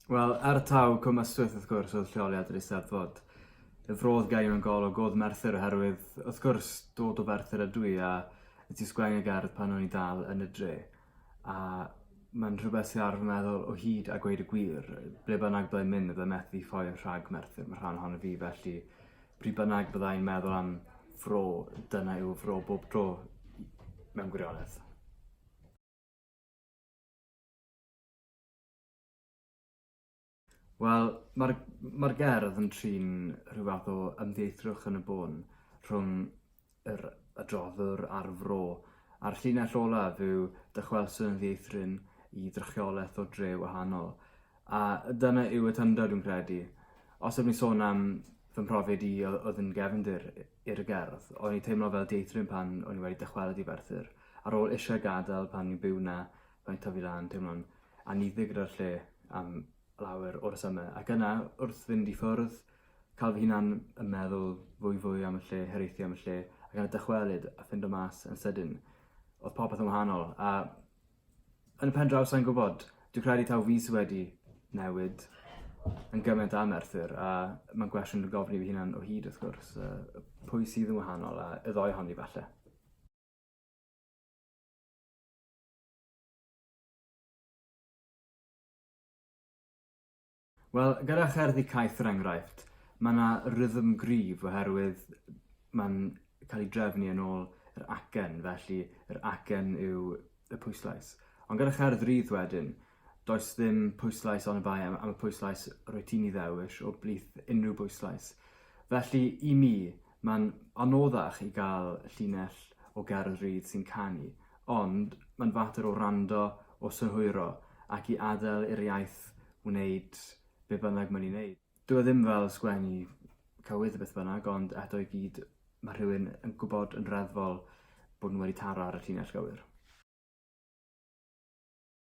Wel, ar y taw Cwm Ystwyth, wrth gwrs, oedd lleoliad yr Eisteddfod. Y fro oedd gen i mewn gol o god Merthyr oherwydd, wrth gwrs, dod o Ferthyr ydw i a y ti sgwennu gerdd pan o'n i dal yn y dre. a mae'n rhywbeth sydd ar fy meddwl o hyd a gweud y gwir. Ble bynnag byddai'n mynd, byddai methu ffoi yn rhag Merthyr, mae rhan ohono fi, felly pryd bynnag byddai'n meddwl am fro, dyna yw fro bob tro, mewn gwirionedd. Wel, mae'r mae'r gerdd yn trin rhyw fath o ymddieithrwch yn y bôn rhwng yr adroddwr a'r fro, a'r llinell olaf yw dychwelso yn ddieithryn i drychiolaeth o dre wahanol. A dyna yw y tyndod, dwi'n credu. Os ydw i'n sôn am fy mhrofiad i o- oedd yn gefndir i- i'r gerdd, o'n i'n teimlo fel dieithryn pan o'n i wedi dychwelyd i Ferthyr, ar ôl eisiau gadael pan o'n i'n byw 'na, Mae'n tyfu lan, teimlo'n anniddig gyda'r lle am lawer o'r symau, ac yna, wrth fynd i ffwrdd, cael fy hunan yn meddwl fwy fwy am y lle, hiraethu am y lle, ac yna dychwelyd a ffindo mas yn sydyn. Oedd popeth yn wahanol, a yn y pen draw sa'n gwybod, dwi'n credu taw fi sydd wedi newid yn gymaint am Merthyr, a mae'n gwestiwn dwi'n gofyn i fy hunan o hyd wrth gwrs, pwy sydd yn wahanol, a y ddoi honni falle. Wel, gyda cherddi caeth er enghraifft, mae yna rhythm gryf oherwydd mae'n cael ei drefnu yn ôl yr acen, felly yr acen yw y pwyslais. Ond gyda cherdd rydd wedyn, Does ddim pwyslais ond bai am y pwyslais rwyt ti'n ei ddewis o blith unrhyw bwyslais. Felly, i mi, mae'n anoddach i gael llinell o gerdd rydd sy'n canu, ond mae'n fater o wrando, o synhwyro, ac i adael i'r iaith wneud be bynnag mae'n ei wneud. Dyw e ddim fel sgwennu cywydd beth bynnag, ond eto i gyd mae rhywun yn gwybod yn reddfol bod nhw wedi taro ar y llinell gywir.